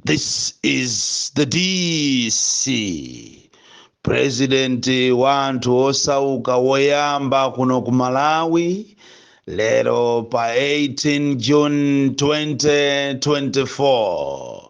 This is the DC. President wa anthu osauka woyamba kuno ku Malawi lero pa 18 June 2024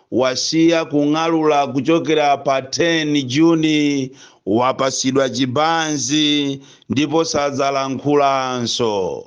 wasiya kung'alula kuchokera pa 10 Juni, wapasidwa chibanzi ndipo sadzalankhulanso.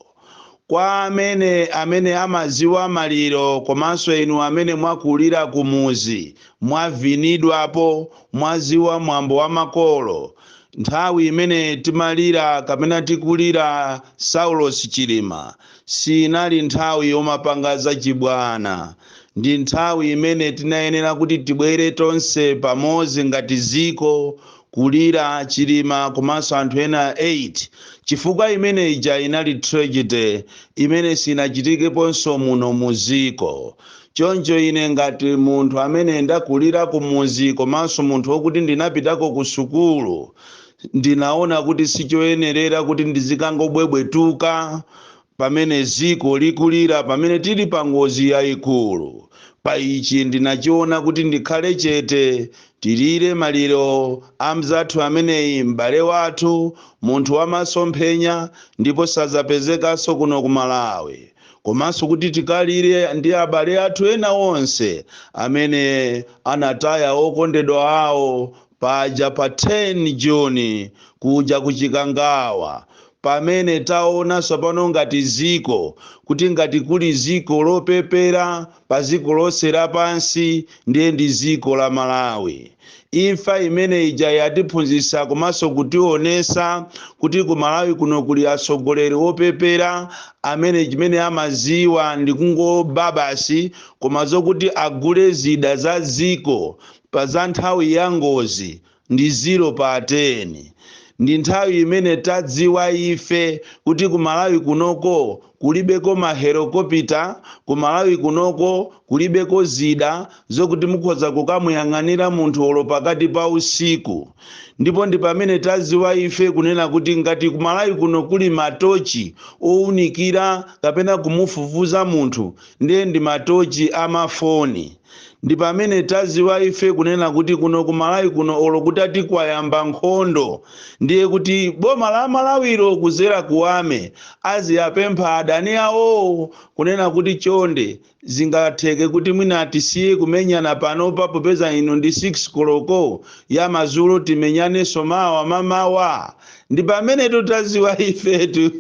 Kwa amene amene amaziwa maliro komanso inu amene mwakulira kumuzi mwavinidwapo, mwaziwa mwambo wa makolo, nthawi imene timalira kapena tikulira Saulos Chilima Siinali nthawi yomapanga zachibwana. Ndi nthawi imene tinayenera kuti tibwere tonse pamodzi ngati ziko kulira Chilima komanso anthu ena 8 chifukwa imene ija inali tragedy imene siinachitikeponso muno muziko. Choncho ine ngati munthu amene ndakulira kumudzi komanso munthu wokuti ndinapitako kusukulu, Ndinaona kuti sichoyenerera kuti ndizikangobwebwetuka pamene ziko likulira pamene tili pa ngozi yaikulu. Pa ichi ndinachiona kuti ndikhale chete tilire maliro a mzathu ameneyi m'bale wathu, munthu wa masomphenya ndipo sadzapezekanso kuno ku Malawi, komanso kuti tikalire ndi abale athu ena onse amene anataya okondedwa awo Paja pa 10 June kuja ku Chikangawa pamene taona sopano ngati ziko kuti ngati kuli dziko lopepera pa dziko lonse lapansi ndiye ndi dziko la Malawi. Imfa imene ija yatiphunzitsa komanso kutionesa kuti ku Malawi kuno kuli atsogoleri opepera amene chimene amaziwa ndi kungoba basi koma zokuti agule zida za dziko pa za nthawi ya ngozi ndi zero pa ten ndi nthawi imene tadziwa ife kuti ku malawi kunoko kulibeko ma helikopita ku malawi kunoko kulibeko zida zokuti mukhoza kukamuyang'anira munthu olo pakati pa usiku ndipo ndi pamene tadziwa ife kunena kuti ngati ku malawi kuno kuli matochi owunikira kapena kumufufuza munthu ndiye ndi matochi amafoni ndi pamene taziwa ife kunena kuti kuno ku malawi kuno olo kutati kwayamba nkhondo ndiye kuti boma la malawilo kuzera kwa ame aziwapempha adani awowo kunena kuti chonde zingatheke kuti mwina tisiye kumenyana panopa popeza ino ndi 6 koloko ya mazulo timenyanenso mawa mamawa ndi pamenetu taziwa ifetu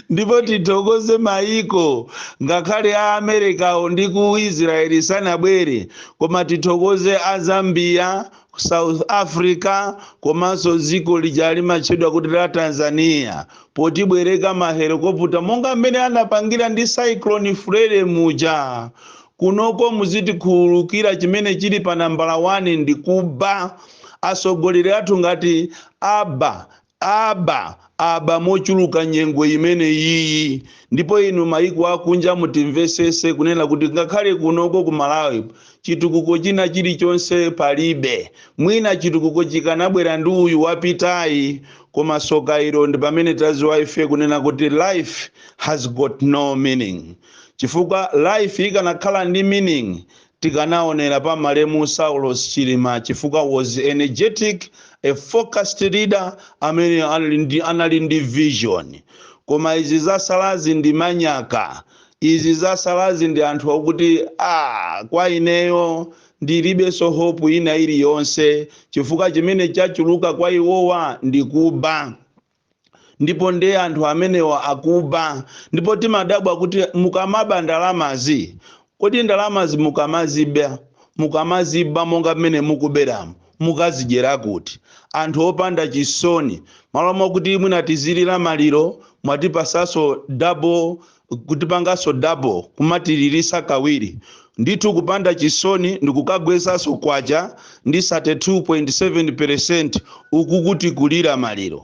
ndipo tithokoze mayiko ngakhale a amerikawo ndi ku israeli sanabwere koma tithokoze a zambia south africa komanso dziko lija limatchedwa kuti la tanzania potibwereka mahelikoputa monga mmene anapangira ndi cyclone freddy muja kunoko muzitikhululukira chimene chili pa nambala 1 ndi kuba atsogoleri athu ngati aba Aba, aba mochuluka nyengo imene iyi ndipo inu maiko akunja mutimvesese kunena kuti ngakhale kunoko ku Malawi chitukuko china chilichonse palibe mwina chitukuko chikanabwera ndi uyu wapitayi koma soka ilo ndipamene taziwa ife kunena kuti life has got no meaning chifukwa life ikanakhala ndi meaning Tikanaonera pa malemu Saulos Chilima chifukwa was energetic, a focused leader amene anali ndi vision. Koma izi zasalazi ndi manyaka. Izi zasalazi ndi anthu okuti aah kwa ineyo ndilibenso hope ina iliyonse chifukwa chimene chachuluka kwa iwowa ndi kuba. ndipo ndiye anthu amenewa akuba ndipo timadabwa kuti mukamaba ndalamazi kodi ndalamazi mukamaziba mukamaziba monga mmene mukuberamo mukazidyera kuti anthu opanda chisoni malo mwakuti mwina tizilira maliro mwatipasaso double kutipanganso double kumatilirisa kawiri ndithu kupanda chisoni ndikukagwesanso kwacha ndi 32.7 percent ukuku tikulira maliro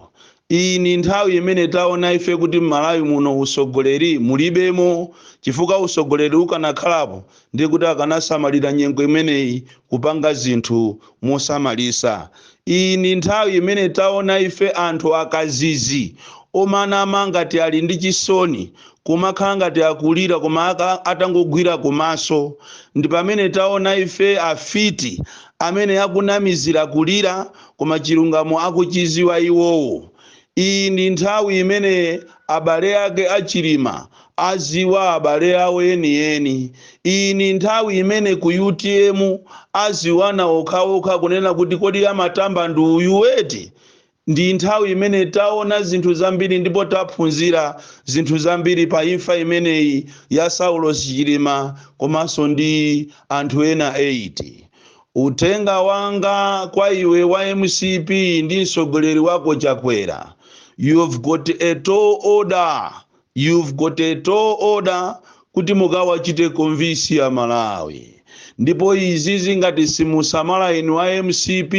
iyi ndi nthawi imene taona ife kuti mmalawi muno usogoleri mulibemo chifukwa usogoleri ukanakhalapo Ndi kuti akanasamalira nyengo imeneyi kupanga zinthu mosamalisa. Iyi ndi nthawi imene taona ife anthu akazizi omanama ngati ali ndi chisoni, kumakhala ngati akulira koma atangogwira kumaso. Ndi pamene taona ife afiti amene akunamizira kulira koma chilungamo akuchiziwa iwowo. Iyi ndi nthawi imene abale ake a Chilima aziwa abale awo enieni. Iyi ndi nthawi imene ku utm aziwana okhaokha kunena kuti kodi amatamba ndi uyu eti? Ndi nthawi imene taona zinthu zambiri ndipo taphunzira zinthu zambiri pa imfa imeneyi ya Saulos Chilima komanso ndi anthu ena 8. Uthenga wanga kwa iwe wa mcp ndi mtsogoleri wako Chakwera you've got a tall order you've got a tall order kuti mukawachite convince a Malawi ndipo izizi ngati simusamala inu a mcp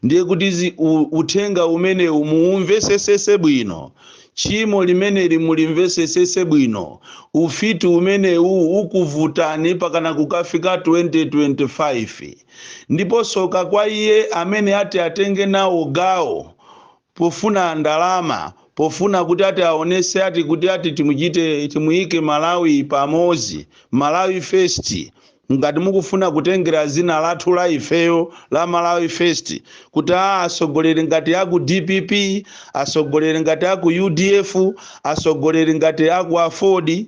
ndiye kuti uthenga umenewu muumvesesese bwino Tchimo limeneli mulimvesesese bwino. Ufiti umenewu ukuvutani pakana kukafika 2025. Ndipo soka kwa iye amene ati atenge nawo gawo pofuna ndalama pofuna kuti ati aonese ati kuti ati timuchite timuyike Malawi pamoto, Malawi first, Ngati mukufuna kutengera zina lathu la ifeyo la Malawi First kuti aa atsogoleri ngati aku dpp, atsogoleri ngati aku udf, atsogoleri ngati aku aford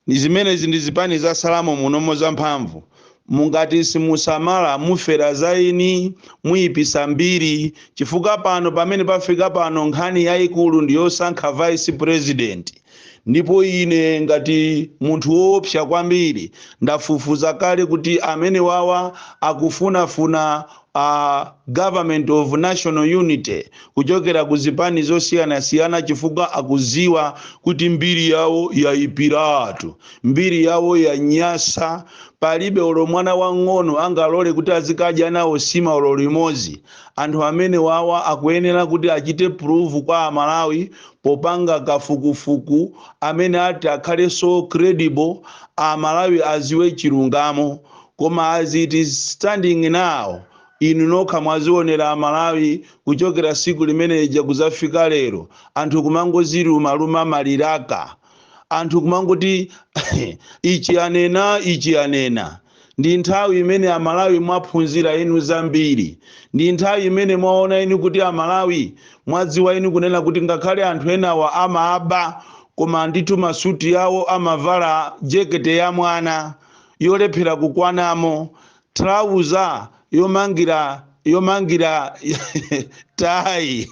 zimenezi ndi zipani zatsalamo munomo za mphamvu mungati simusamala mufera za eni muipitsa mbiri chifukwa pano pamene pafika pano nkhani yaikulu ndi yosankha vice president. ndipo ine ngati munthu woopsa kwambiri ndafufuza kale kuti amene wawa akufunafuna government of national unity kuchokera ku zipani zosiyanasiyana chifukwa akuziwa kuti mbiri yawo yayipiratu mbiri yawo yanyasa palibe olo mwana wang'ono angalole kuti azikadya nawo sima olo limodzi anthu amene wawa akuyenera kuti achite prove kwa amalawi popanga kafukufuku amene ati akhale so credible amalawi aziwe chilungamo koma as it is standing now inu nokha mwazionera amalawi kuchokera siku limene lija kuzafika lero anthu kumangoziluma luma maliraka anthu kumangoti ichi anena ichi anena Ndi nthawi imene a Malawi mwaphunzira inu zambiri. Ndi nthawi imene mwaona inu kuti a Malawi mwadziwa inu kunena kuti ngakhale anthu enawa amaba koma ndithu masuti awo amavala jekete ya mwana yolephera kukwanamo, trouser yomangira yomangira tayi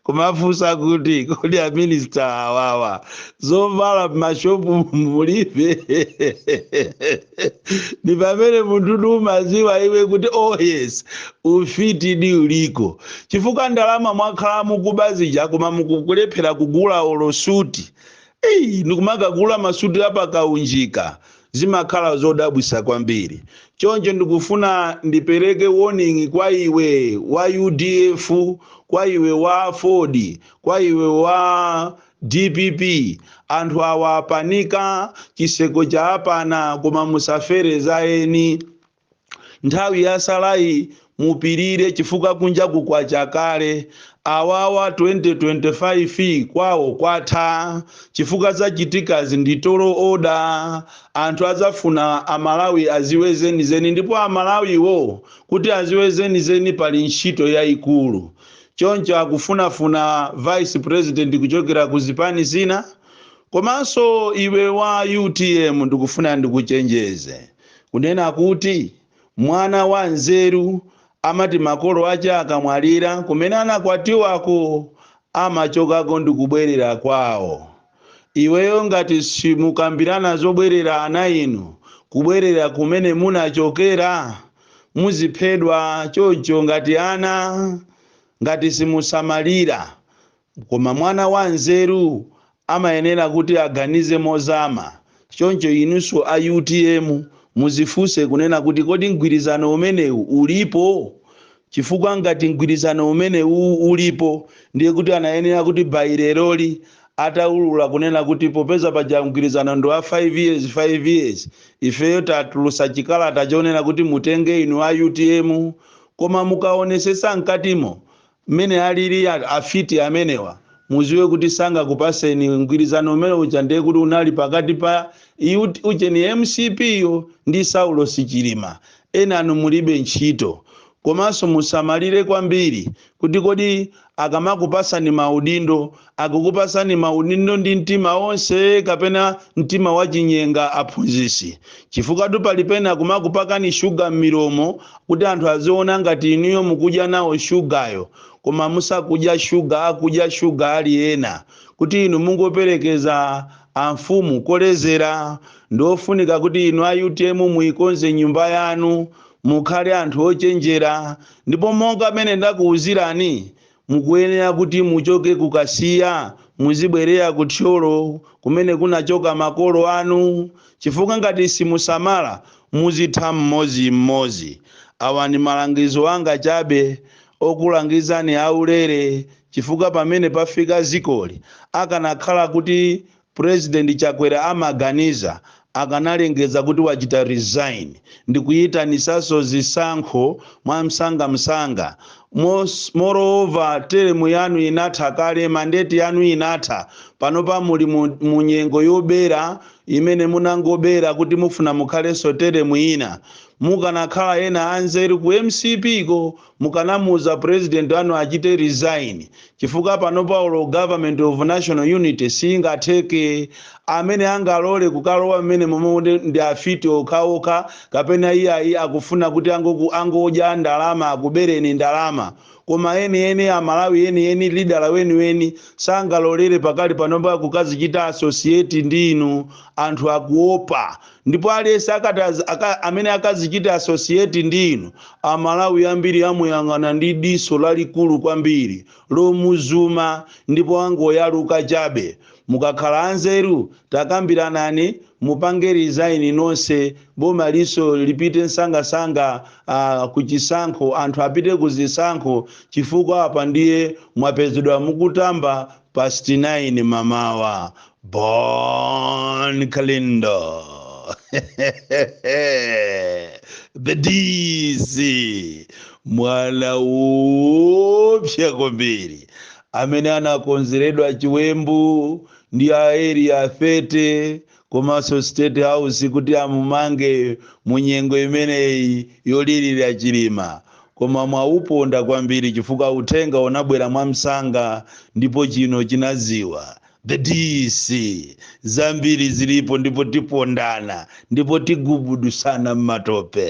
kumafunsa kuti kodi aminista awawa zovala mmashopu mulibe ni pamene munthu di umaziwa iwe kuti oh yes ufitidi uliko chifukwa ndalama mwakhala mukuba zija koma mukulephera kugula olo suti ndikumakagula masuti apakaunjika zimakhala zodabwisa kwambiri choncho ndikufuna ndipereke warning kwa iwe wa udf kwa iwe wa aford kwa iwe wa dpp anthu awa apanika chiseko chawapana koma musafere za eni nthawi yatsalayi mupirire chifukwa kunjaku kwacha kale awawa 2025 kwawo kwatha chifukwa zachitikazi ndi tall order anthu adzafuna amalawi aziwe zenizeni ndipo amalawiwo kuti aziwe zenizeni pali ntchito yayikulu choncho akufunafuna vice president kuchokera ku zipani zina komanso iwe wa utm ndikufuna ndikuchenjeze kunena kuti, Mwana wanzeru amati makolo ake akamwalira, kumene anakwatiwako amachokako ndi kubwerera kwao. Iweyo ngati simukambirana zobwerera ana inu kubwerera kumene munachokera, muziphedwa choncho ngati ana ngati simusamalira Koma mwana wanzeru amayenera kuti aganize mozama, choncho inunso a utm mudzifunse kunena kuti kodi mgwirizano umenewu ulipo? Chifukwa ngati mgwirizano umenewu ulipo ndiye kuti anayenera kuti by leroli ataulula kunena kuti popeza paja mgwirizano ndi wa 5 years, 5 years ifeyo tatulutsa chikalata chonena kuti mutenge inu a utm. Koma mukaonesetsa mkatimo mmene alili afiti amenewa muziwe kuti sangakupaseni mgwirizano umene uja ndiye kuti unali pakati pa ut ujeni mcp yo ndi saulosi chilima enanu mulibe ntchito komanso musamalire kwambiri kuti kodi akamakupasani maudindo Akukupasani maudindo ndi mtima onse kapena mtima wachinyenga aphunzisi? Chifukwatu pali pena kumakupakani sugar m'milomo kuti anthu aziona ngati inuyo mukudya nawo sugar yo koma musakudya sugar akudya sugar ali ena kuti inu mungoperekeza amfumu kolezera ndiofunika kuti inu a utm muikonze nyumba yanu mukhale anthu ochenjera ndipo monga mene ndakuuzirani Mukuyenera kuti muchoke ku Kasiya muzibwerera ku Thyolo kumene kunachoka makolo anu chifukwa ngati simusamala muzitha mmodzi mmodzi. Awa ndi malangizo anga chabe okulangizani aulere chifukwa pamene pafika dzikoli akanakhala kuti President Chakwera amaganiza akanalengeza kuti wachita resign ndikuyitanisaso zisankho mwamsanga msanga moreover term yanu inatha kale mandate yanu inatha panopa muli mu mu nyengo yobera imene munangobera kuti mufuna mukhaleso term ina mukanakhala ena anzeru ku mcp ko Mukanamuuza president anu achite resign chifukwa panopa olo government of national unity singatheke. Amene angalole kukalowa mmenemomo ndi afiti okhaokha kapena iyayi akufuna kuti angodya ndalama akubereni ndalama. Koma enieni Amalawi enieni lidala weniweni sangalolere pakali panopa kukazichita associate ndi inu. Anthu akuopa. Ndipo aliyense amene akazichite associate ndi inu, Amalawi ambiri amuyang'ana ndi diso lalikulu kwambiri, lomuzuma, ndipo angoyaluka chabe. Mukakhala anzeru, takambiranani, mupange resign nonse, boma liso lipite nsangansanga kuchisankho, anthu apite kuzisankho, chifukwa apa ndiye mwapezedwa mukutamba past 9 mamawa. Bon Kalindo. the DC mwana oopsa kwambiri amene anakonzeredwa chiwembu ndi a area 30 komanso state house kuti amumange mu nyengo imeneyi yolirira chilima koma mwauponda kwambiri chifukwa uthenga unabwera mwamsanga ndipo chino chinaziwa The DC, zambiri zilipo ndipo tipondana ndipo tigubudusana m'matope.